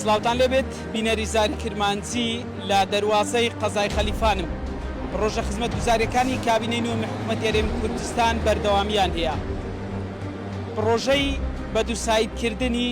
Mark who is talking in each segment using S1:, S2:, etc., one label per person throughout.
S1: سلاوتان لێبێت بینەری زاری کرمانجی لە دەواازەی قەزای خەلیفانم ڕۆژە خزمەت گوزارەکانی کابینەی نوێ مححمەت یاێم کوردستان بەردەوامیان هەیە پرۆژەی بە دووسایدکردنی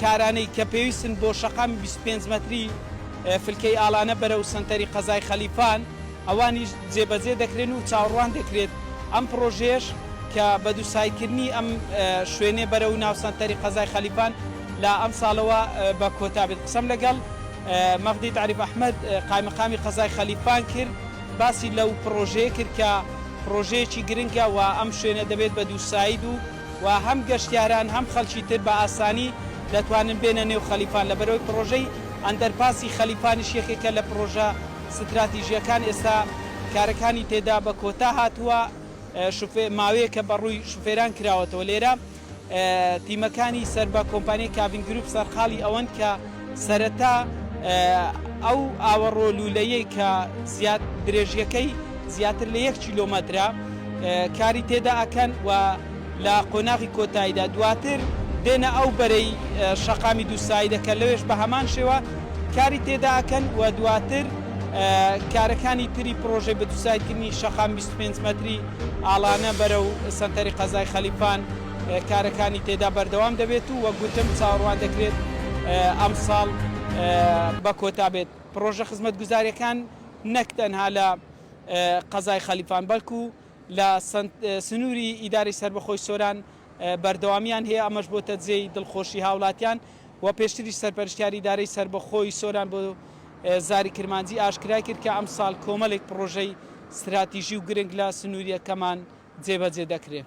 S1: کارانەی کە پێویستن بۆ شەقامی بیست و پێنج مەتری فلکەی ئاڵانە بەرەو سەنتەری قەزای خەلیفان ئەوانیش جێبەجێ دەکرێن و چاوەڕوان دەکرێت ئەم پڕۆژەیەش کە بە دووسایکردنی ئەم شوێنێ بەرەو ناو سەنتەری قەزای خەلیفان لە ئەمساڵەوە بە کۆتا بێت قسەم لەگەڵ مەغدی تاریف ئەحمەد قایمقامی قەزای خەلیفان کرد باسی لەو پڕۆژەیە کرد کە پڕۆژەیەکی گرنگە و ئەم شوێنە دەبێت بە دووساید و و هەم گەشتیاران هەم خەلکی تر بە ئاسانی دەتوانن بێنە نێو خەلیفان لەبەرئەوەی پڕۆژەی ئەندەرپاسی خەلیفانیش یەکێکە لە پڕۆژە ستراتیژیەکان ئێستا کارەکانی تێدا بە کۆتا هاتووە شوفێ ماوەیەکە بە ڕووی شوفێران کراوەتەوە لێرە تیمەکانی سەر بە کۆمپانیای کاڤین گروپ سەرقاڵی ئەوەن کە سەرەتا ئەو ئاوەڕۆ لوولەیەی کە درێژیەکەی زیاتر لە یەک کیلۆمەترە کاری تێدا ئەکەن و لە قۆناغی کۆتاییدا دواتر دێنە ئەو بەرەی شەقامی دووسایی دەکەن لەوێش بە هەمان شێوە کاری تێدا ئەکەن و دواتر کارەکانی تری پرۆژەی بە دووسایکردنی شەقام 25 مەتری ئاڵانە بەرە و سەنتەری قەزای خەلیفان کارەکانی تێدا بەردەوام دەبێت و وەک گوتم چاوەڕوان دەکرێت ئەمساڵ بە کۆتا بێت پڕۆژە خزمەتگوزاریەکان نەک تەنها لە قەزای خەلیفان بەڵکو لە سنوری ئیدارەی سەربەخۆی سۆران بەردەوامیان هەیە ئەمەش بۆتە جێی دڵخۆشی هاوڵاتیان و پێشتریش سەرپەرشتیاری ئیدارەی سەربەخۆی سۆران بۆ زاری کرمانجی ئاشکرای کرد کە ئەمساڵ کۆمەلێک پڕۆژەی ستراتیژی و گرنگ لە سنوریەکەمان جێبەجێ دەکرێن.